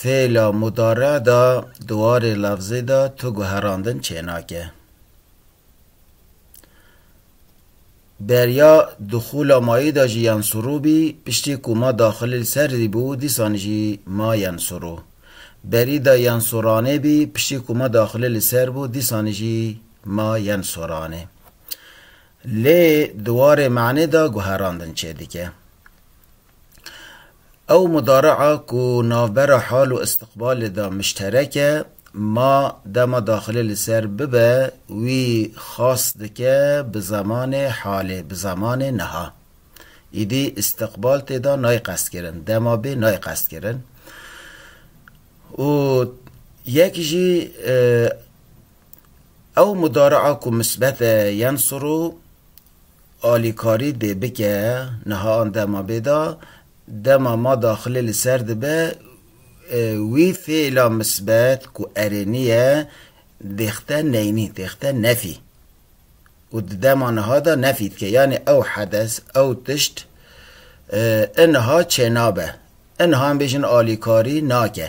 Fêla mudare de di warê lefzê de tu guherandin çênake. Beriya dixûla mayî de jî yan sirû bî, piştî ku ma daxilîl serdî bû dîsan jî ma yan sirû. Berî de yan soranê bî, piştî ku ma daxilê li ser bû dîsan jî ma yan soranê. Lê di warê manê de guherandin çêdike. Ew mudare'a ku navbera hal û istiqbalê de mişterek e, ma dema daxilê li ser bibe wî xas dike bi zemanê halê, bi zemanê niha. Îdî istiqbal tê da nayê qestkirin, dema bê nayê qestkirin. Û yek jî ew mudare'a ku misbet e yen sirû, alîkarî dê bike. Niha an dema bê da, dema ma daxilê li ser dibe, wî fêla misbet ku erê nîye dêxte neynî, dêxte nefî û di dema niha da nefî dike. Yanî ew hedes, ew tişt ê niha çênabe. Ê niha em bêjin alîkarî nake.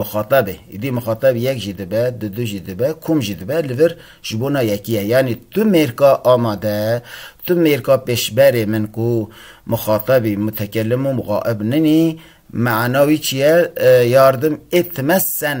muxatab e. Îdî muxatab yek jî dibe, du du jî dibe, kom jî dibe li vir ji bona yekî ye. Yanî tu mêrka amade, tu mêrka pêşberê min ku muxatabî mutekellimûm gaib ninî, meana wî çi ye? Yardim ê time sen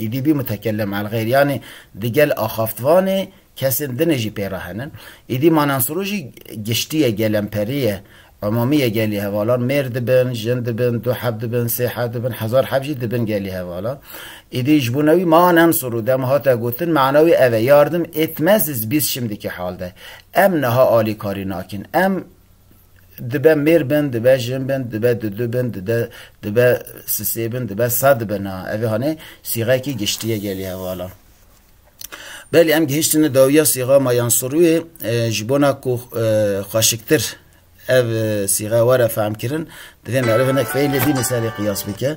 Êdî bî mutekellem elxeyr yanî di gel axaftvanê kesên din ê jî pê re henin. Êdî Manensuru jî giştî ye, gelemperî ye, umûmî ye gelî hevalan, mêr dibin, jin dibin, du heb dibin, sê heb dibin, hezar heb jî dibin gelî hevalan. Êdî ji bo newî Manensuru dema hate gotin mana wî ev e, yardım etmeziz biz şimdiki halde. Em niha alîkarî nakin. Em. Dibe mêr bin, dibe jin bin, dibe du du bin, dibe dibe sisê bin, dibe sed bin a. Ev ê hanê sîxeyekî giştî ye gelê hevalan. Belê em gihîştine dawiya sîxa ma yan sirûyê ji bona ku xweşiktir ev sîxe were fehmkirin divê meriv hinek feylê dî li serê qiyas bike.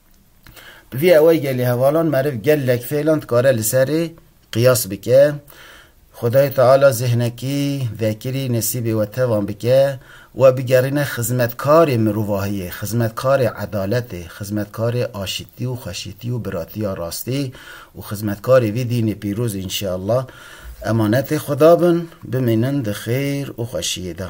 Bi vî awaygelê hevalan meriv gelek fêlan dikare li serê qiyas bike. Xwedayê Teala zêhnekî, vekirî, nesîbê we tevan bike, we bigerîne xizmetkarê mirovahiyê, xizmetkarê edaletê, xizmetkarê aşitî û xweşitî û biratiya rastî û xizmetkarê vî dînê pîroz înşeallah emanetê Xweda bin, bimînin di xêr û xweşiyê de.